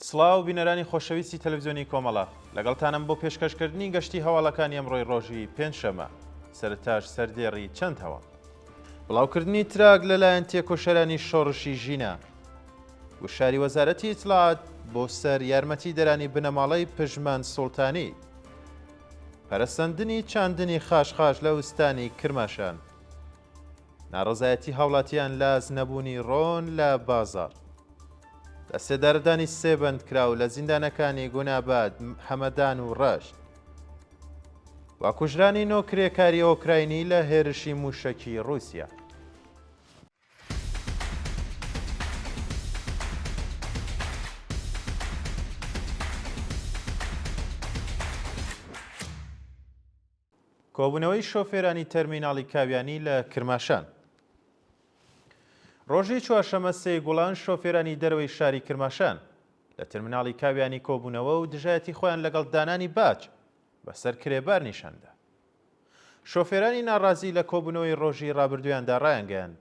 سڵاو بینەرانی خۆشەویستی تەلەڤزیۆنی کۆمەڵە، لەگەڵتانم بۆ پێشکەشکردنی گەشتی هەواڵەکانی ئەمڕۆی ڕۆژی پێنجشەممە. سەرتاش سەردێڕی چەند هەواڵ. بڵاوکردنی تراک لەلایەن تێکۆشەرانی شۆڕشی ژینا. گوشاری وەزارەتی ئیتلاعات بۆ سەر یارمەتیدەرانی بنەماڵەی پژمان سوڵتانی پەرەسەندنی چاندنی خاشخاش لە ئوستانی کرماشان ناڕەزایەتی هاوڵاتیان لە ئاست نەبوونی ڕۆن لە بازاڕ لە سێدارەدانی سێ بەندکراو لە زیندانەکانی گوناباد حەمەدان و ڕەشت و کوژرانی نۆ کرێکاری ئۆکراینی لە هێرشی مووشەکی ڕووسیا. کۆبوونەوەی شۆفێرانی تەرمیناڵی کاویانی لە کرماشان. ڕۆژی چوارشەمە سێ گوڵان شۆفێرانی دەرەوەی شاری کرماشان لە تەرمیناڵی کاویانی کۆبوونەوە و دژایەتی خۆیان لەگەڵ دانانی باج بەسەر کرێبار نیشاندا. شۆفێرانی ناڕازی لە کۆبوونەوەی ڕۆژی ڕابردوویاندا ڕایانگەیاند،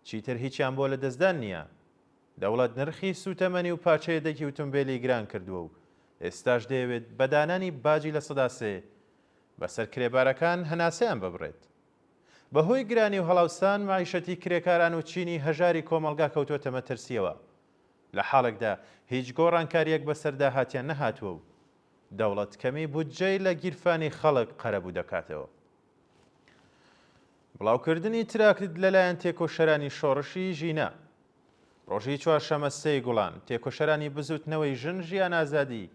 چیتر هیچیان بۆ لەدەستدان نییە. دەوڵەت نرخی سووتەمەنی و پارچە یەدەگی ئوتومبێلی گران کردووە و ئێستاش دەیەوێت بە دانانی باجی لە سەدا سێ بەسەر کرێبارەکان هەناسەیان ببڕێت. بەهۆی گرانی و هەڵاوسان مەعیشەتی کرێکاران و چینی هەژاری کۆمەڵگا کەوتووەتە مەترسییەوە لە حاڵێکدا هیچ گۆڕانکارییەک بەسەر داهاتیان نەهاتووە و دەوڵەت کەمی بودجەی لە گیرفانی خەڵک قەرەبوو دەکاتەوە. بڵاوکردنی تراکت لەلایەن تێکۆشەرانی شۆڕشی ژینا ڕۆژی چوارشەمە سێی گوڵان، تێکۆشەرانی بزووتنەوەی ژن ژیان ئازادی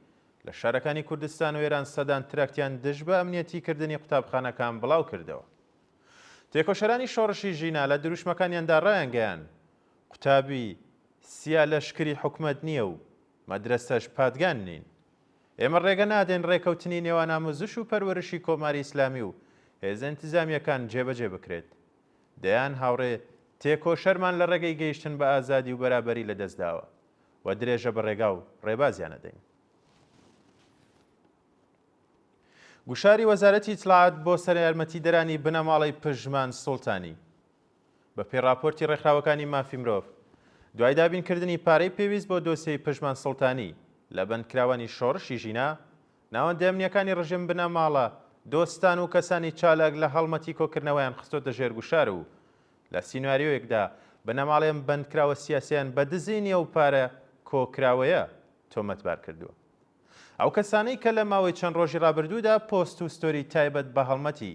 لە شارەکانی کوردستان و ئێران سەدان تراکتیان دژ بە ئەمنیەتی کردنی قوتابخانەکان بڵاوکردەوە. تێکۆشەرانی شۆڕشی ژینا لە دروشمەکانیاندا ڕایانگەیاند، قوتابی، سیا لەشکری حکومەت نییە و، مەدرەسەش پادگان نین. ئێمە ڕێگە نادەین ڕێکەوتنی نێوان ئاموزش و پەروەرشی کۆماری ئیسلامی و هێزە ئینتزامیەکان جێبەجێ بکرێت. دەیان هاوڕێ تێکۆشەرمان لە ڕێگەی گەیشتن بە ئازادی و بەرابەری لە دەست داوە و درێژە بە ڕێگا و ڕێبازیان ئەدەین. گوشاری وەزارەتی ئیتلاعات بۆ سەرەیارمەتیدەرانی بنەماڵەی پژمان سوڵتانی. بە پێی ڕاپۆرتی ڕێکخراوەکانی مافی مرۆڤ، دوای دابین کردنی پارەی پێویست بۆ دۆسیەی پژمان سوڵتانی لە بەندکراوانی شۆڕشی ژینا، ناوەندە ئەمنییەکانی ڕژێم بنەماڵە، دۆستان و کەسانی چالاک لە هەڵمەتی کۆکردنەوەیان خستۆتە ژێر گوشار و لە سیناریۆیەکدا بنەماڵەی ئەم بەندکراوە سیاسیەیان بە دزینی ئەو پارە کۆکراوەیە تۆمەتبار کردووە. ئەو کەسانەی کە لە ماوەی چەند ڕۆژی ڕابردوودا پۆست و ستۆری تایبەت بە هەڵمەتی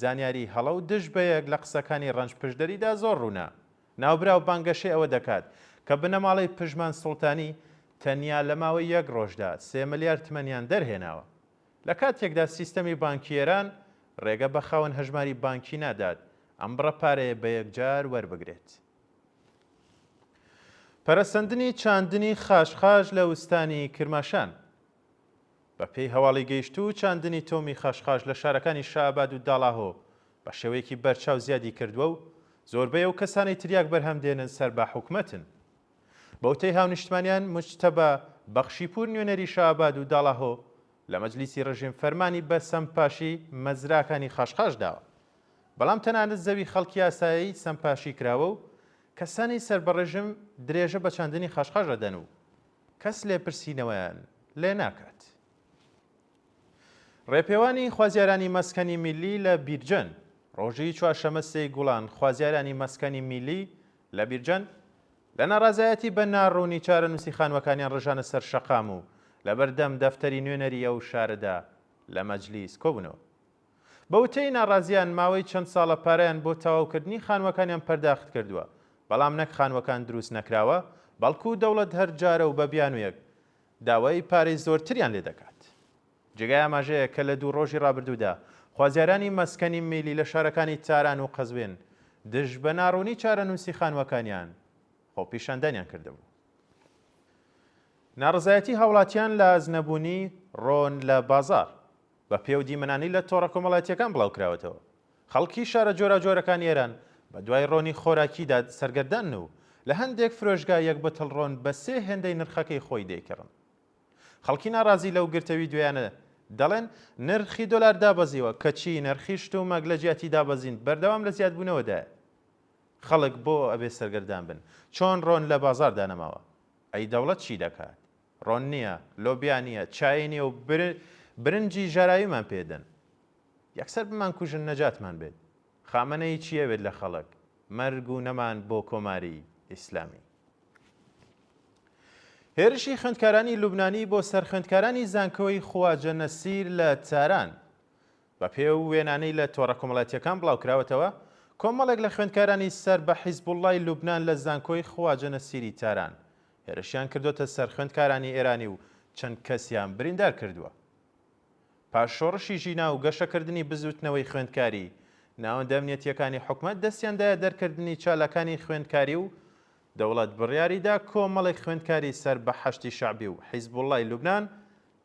زانیاری هەڵە و دژ بەیەک لە قسەکانی ڕەنج پشدەریدا زۆر ڕوونە. ناوبراو بانگەشەی ئەوە دەکات کە بنەماڵەی پژمان سوڵتانی تەنیا لە ماوەی یەک ڕۆژدا سێ ملیار تمەنیان دەرهێناوە. لە کاتێکدا سیستەمی بانکی ئێران ڕێگە بە خاوەن هەژماری بانکی نادات ئەم بڕە پارەیە بە یەکجار وەربگرێت. پەرەسەندنی چاندنی خاشخاش لە وستانی کرماشان. بە پێی هەواڵی گەیشتوو، چاندنی تۆومی خاشخاش لە شارەکانی شەئاباد و داڵاهۆ بە شێوەیەکی بەرچاو زیادی کردووە و زۆربەی ئەو کەسانەی تریاک بەرهەم دێنن سەر بە حکومەتن. بە وتەی هاونیشتمانیان، موجتەبا بەخشیپوور نوێنەری شەئاباد و داڵاهۆ لە مەجلیسی ڕژیم فەرمانی بە سەمپاشی مەزراکانی خاشخاش داوە، بەڵام تەنانەت زەوی خەڵکی ئاسایەی سەمپاشی کراوە و کەسانی سەر بە ڕژیم درێژە بە چاندنی خاشخاش ئەدەن و کەس لێپرسینەوەیان لێ ناکات. ڕێپێوانی خوازیارانی مەسکەنی میللی لە بیرجەن ڕۆژی چوارشەمە سێی گوڵان خوازیارانی مەسکەنی میلی لە بیرجەن لە ناڕازایەتی بە ناڕوونی چارەنووسی خانوەکانیان ڕژانە سەر شەقام و لەبەردەم دەفتەری نوێنەری ئەو شارەدا لە مەجلیس کۆبوونەوە. بە وتەی ناڕازییان ماوەی چەند ساڵە پارەیان بۆ تەواوکردنی خانووەکانیان پەرداخت کردووە، بەڵام نەک خانووەکان دروست نەکراوە، بەڵکو دەوڵەت هەر جارە و بە بیانوویەک داوای پارەی زۆرتریان لێ دەکات. جێگای ئاماژەیە کە لە دوو ڕۆژی ڕابردوودا خوازیارانی مەسکەنی میلی لە شارەکانی تاران و قەزوێن دژ بە ناڕوونی چارەنووسی خانووەکانیان خۆپیشاندانیان کردبوو. ناڕەزایەتی هاوڵاتیان لە ئازنەبوونی ڕۆن لە بازاڕ. بە پێ و دیمەنانی لە تۆڕە کۆمەڵایەتییەکان بڵاو کراوەتەوە، خەڵکی شارە جۆراوجۆرەکانی ئێران بە دوای ڕۆنی خۆراکیدا سەرگەردانن و لە هەندێک فرۆشگا یەک بتڵ ڕۆن بە سێ هێندەی نرخەکەی خۆی دەیکڕن. خەڵکی ناڕازی لەو گرتەوی دوێیانە دەڵێن، نرخی دۆلار دابەزیوە، کەچی نرخی شتومەک لە جیاتی دابەزین بەردەوام لە زیادبوونەوەدایە. خەڵک بۆ ئەبێ سەرگەردان بن، چۆن ڕۆن لە بازاڕدا نەماوە؟ ئەی دەوڵەت چی دەکات؟ ڕۆن نییە، لۆبیا نییە، چای نییە و برنجی ژاراویمان پێ دەن. یەکسەر بمانکوژن نەجاتمان بێت. خامەنەیی چی ئەوێت لە خەڵک؟ مەرگ و نەمان بۆ کۆماری ئیسلامی. هێرشی خوێندکارانی لوبنانی بۆ سەر خوێندکارانی زانکۆی خواجە نەسیر لە تاران. بەپێی ئەو وێنانەی لە تۆڕە کۆمەڵایەتییەکان بڵاوکراوەتەوە، کۆمەڵێک لە خوێندکارانی سەر بە حیزبوڵڵای لوبنان لە زانکۆی خواجە نەسیری تاران، هێرشیان کردووەتە سەر خوێندکارانی ئێرانی و چەند کەسیان بریندار کردووە. پاش شۆڕشی ژینا و گەشەکردنی بزووتنەوەی خوێندکاری، ناوەندە ئەمنیەتییەکانی حکومەت دەستیان دایە دەرکردنی چالاکانی خوێندکاری و دەوڵەت بڕیاریدا کۆمەڵێک خوێندکاری سەر بە حەشدی شەعبی و حیزبوڵڵای لوبنان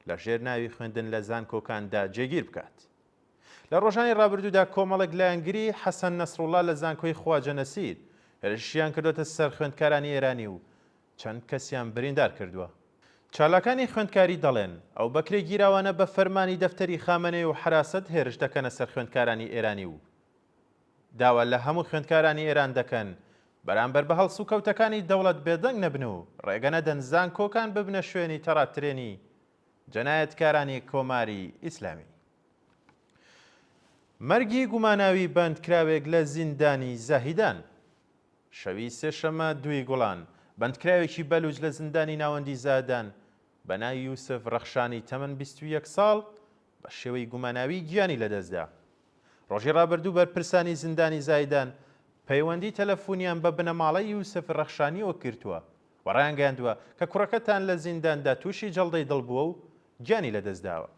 لەژێر ناوی خوێندن لە زانکۆکاندا جێگیر بکات. لە ڕۆژانی ڕابردوودا کۆمەڵێک لایەنگری حەسەن نەسروڵڵا لە زانکۆی خواجە نەسیر هێرشیان کردووەتە سەر خوێندکارانی ئێرانی و چەند کەسیان بریندار کردووە. چالاکانی خوێندکاری دەڵێن، ئەو بەکرێگیراوانە بە فەرمانی دەفتەری خامەنەی و حەراسەت هێرش دەکەنە سەر خوێندکارانی ئێرانی و داوا لە هەموو خوێندکارانی ئێران دەکەن بەرامبەر بە هەڵسوکەوتەکانی دەوڵەت بێدەنگ نەبن و ڕێگە نەدەن زانکۆکان ببنە شوێنی تەڕاترێنی جەنایەتکارانی کۆماری ئیسلامی. مەرگی گوماناوی بەندکراوێک لە زیندانی زاهیدان شەوی سێشەممە دووی گوڵان، بەندکراوێکی بەلووچ لە زیندانی ناوەندی زاهدان بە ناوی یوسف ڕەخشانی تەمەن بیست و یەک ساڵ، بە شێوەی گوماناوی گیانی لەدەستدا. ڕۆژی ڕابردوو بەرپرسانی زیندانی زایدان پەیوەندی تەلەفونیان بە بنەماڵەی یوسف رەخشانیەوە کردوە و ڕایانگەیاندوە کە کوڕەکەتان لە زینداندا توشی جەڵدەی دڵ بوە و گیانی لەدەستداوە.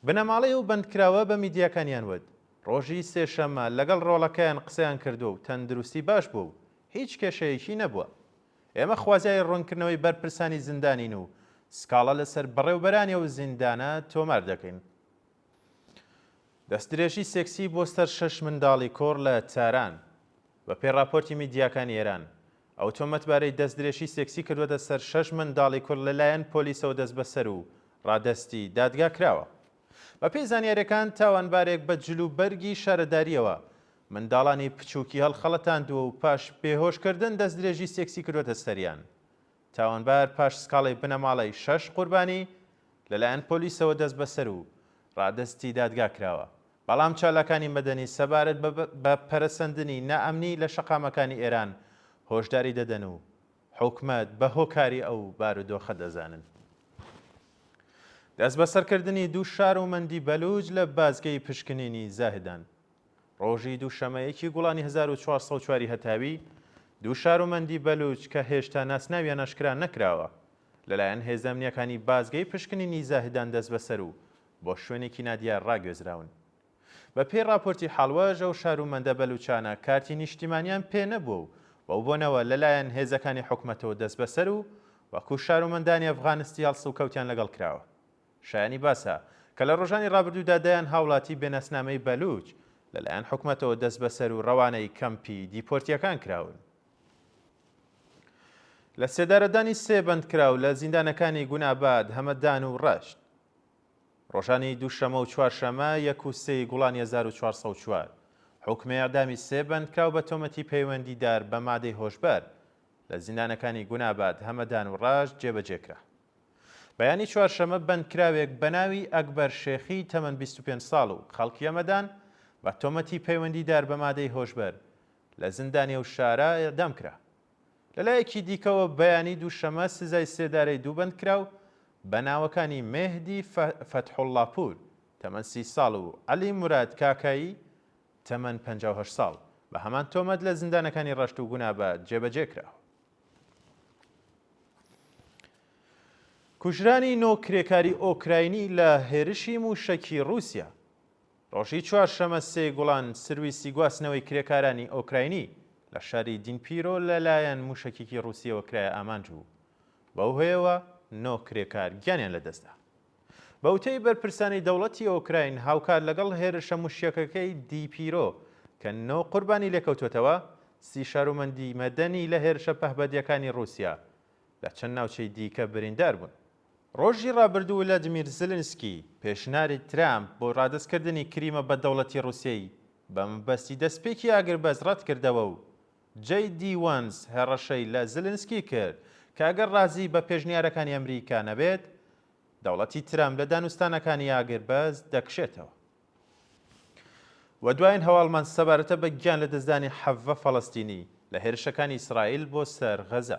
بنەماڵەی ئەو بەندکراوە بە میدیاکانیان وت ڕۆژی سێشەممە لەگەڵ ڕۆڵەکەیان قسەیان کردوە و تەندروستی باش بوە و هیچ کێشەیەکی نەبوە. ئێمە خوازیاری ڕوونکردنەوەی بەرپرسانی زیندانین و سکاڵا لەسەر بەڕێوبەرانی ئەو زیندانە تۆمار دەکەین. دەستدرێژی سێکسی بۆ سەر شەش منداڵی کۆڕ لە تاران. بەپێی ڕاپۆرتی میدیاکانی ئێران، ئەو تۆمەتبارەی دەستدرێژی سێکسی کردووەتە سەر شەش منداڵی کورد لەلایەن پۆلیسەوە دەستبەسەر و ڕادەستی دادگا کراوە. بەپێی زانیارییەکان، تاوانبارێک بە جلوبەرگی شارەدارییەوە منداڵانی بچووکی هەڵخەڵەتاندووە و پاش بێهۆشکردن دەستدرێژی سێکسی کردووەتە سەریان. تاوانبار پاش سکاڵای بنەماڵەی شەش قوربانی، لەلایەن پۆلیسەوە دەستبەسەر و رادەستی دادگا کراوە، بەڵام چالاکانی مەدەنی سەبارەت بە پەرەسەندنی نائەمنی لە شەقامەکانی ئێران هۆشداری دەدەن و حکومەت بە هۆکاری ئەو بارودۆخە دەزانن. دەستبەسەرکردنی دوو شار و مەندی بەلووج لە بازگەی پشکنینی زاهدان. ڕۆژی دووشەمە یەکی گوڵانی هەزار و چوار سەد و چوار ی هەتاوی، دوو شار و مەندی بەلووج کە هێشتا ناسناویان ئاشکرا نەکراوە، لەلایەن هێزە ئەمنییەکانی بازگەی پشکنینی زاهدان دەستبەسەر و بۆ شوێنێکی نادیار ڕاگوێزراون. بە پێی ڕاپۆرتی حاڵواژ ئەو شار و مەندە بەلووچانە کارتی نیشتیمانیان پێ نەبووە و بەو بۆنەوە لە لایەن هێزەکانی حکومەتەوە دەسبەسەر و وەکوو شار و مەندانی ئەفغانستی هەڵس و کەوتیان لەگەڵ کراوە. شایانی باسە کە لە ڕۆژانی ڕابردوودا دەیان هاوڵاتی بێ ناسنامەی بەلووچ لە لایەن حکومەتەوە دەسبەسەر و ڕەوانەی کەمپی دیپۆرتییەکان کراون. لە سێدارەدانی سێ بەندکراو لە زیندانەکانی گوناباد، هەمەدان و ڕەشت. ڕۆژانی دووشەمە و چوارشەمە، یەک و سێ ی گوڵانی هەزار و چوار سەد و چوار، حوکمی ئێعدامی سێ بەندکراو بە تۆمەتی پەیوەندیدار بە مادەی هۆشبەر لە زیندانەکانی گوناباد، هەمەدان و ڕاش جێبەجێ کرا. بەیانی چوارشەمە بەندکراوێک بە ناوی ئەکبەر شێخی تەمەن بیست و پێنج ساڵ و خەڵکی هەمەدان بە تۆمەتی پەیوەندیدار بە مادەی هۆشبەر لە زیندانی ئەو شارە ئێعدام کرا. لەلایەکی دیکەوە، بەیانی دووشەمە سزای سێدارەی دوو بەندکراو بە ناوەکانی مێهدی فەتحوڵڵاپوور، تەمەن سی ساڵ و عەلی موراد کاکایی، تەمەن پەنجا و هەشت ساڵ، بە هەمان تۆمەت لە زیندانەکانی ڕەشت و گونابە جێبەجێ کرا. کوژرانی نۆ کرێکاری ئۆکراینی لە هێرشی مووشەکی ڕووسیا، ڕۆژی چوارشەمە سێ گوڵان سرویسی گواستنەوەی کرێکارانی ئۆکراینی لە شاری دینپیرۆ لە لایەن موشەکیکی ڕوسیەوە کرایە ئامانج و بەو هۆیەوە نۆ کرێکار گیانیان لە دەستدا. بە وتەی بەرپرسانی دەوڵەتی ئۆکراین هاوکات لەگەڵ هێرشە موشەکەکەی دیپیرۆ کە نۆ قوربانی لێکەوتۆتەوە، سی شارومەندی مەدەنی لە هێرشە پەهبەدیەکانی ڕوسیا لە چەند ناوچەی دیکە بریندار بوون. ڕۆژی ڕابردوو ولادیمیر زیلینسکی، پێشناری ترامپ بۆ ڕادەستکردنی کریمە بە دەوڵەتی ڕووسیەی بە مەبەستی دەستپێکی ئاگربەست ڕەتکردەوە و جەی دی وەنس هەڕەشەی لە زیلینسکی کرد کە ئەگەر ڕازی بە پێشنیارەکانی ئەمریکا نەبێت دەوڵەتی ترامپ لە دانوستانەکانی ئاگربەست دەکشێتەوە. وە دوایین هەواڵمان سەبارەتە بە گیان لەدەستدانی حەڤە فەڵەستینی لە هێرشەکانی ئیسرائیل بۆ سەر غەزە.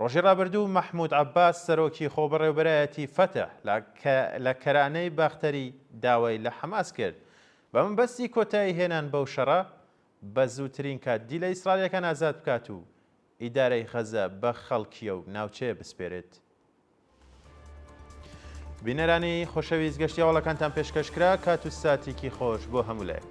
ڕۆژی ڕابردوو مەحمود عەباس سەرۆکی خۆبەڕێوبەرایەتی فەتح لە کە لە کەرانەی باختەری داوای لە حەماس کرد بە مەبەستی کۆتایی هێنان بەو شەڕە بە زووترین کات دیلە ئیسڕالیەکان ئازاد بکات و ئیدارەی غەزە بە خەڵکیە و ناوچەیە بسپێرێت. بینەرانی خۆشەویست گەشتی هەواڵەکانتان پێشکەش کرا کات و ساتیکی خۆش بۆ هەموو لایەک.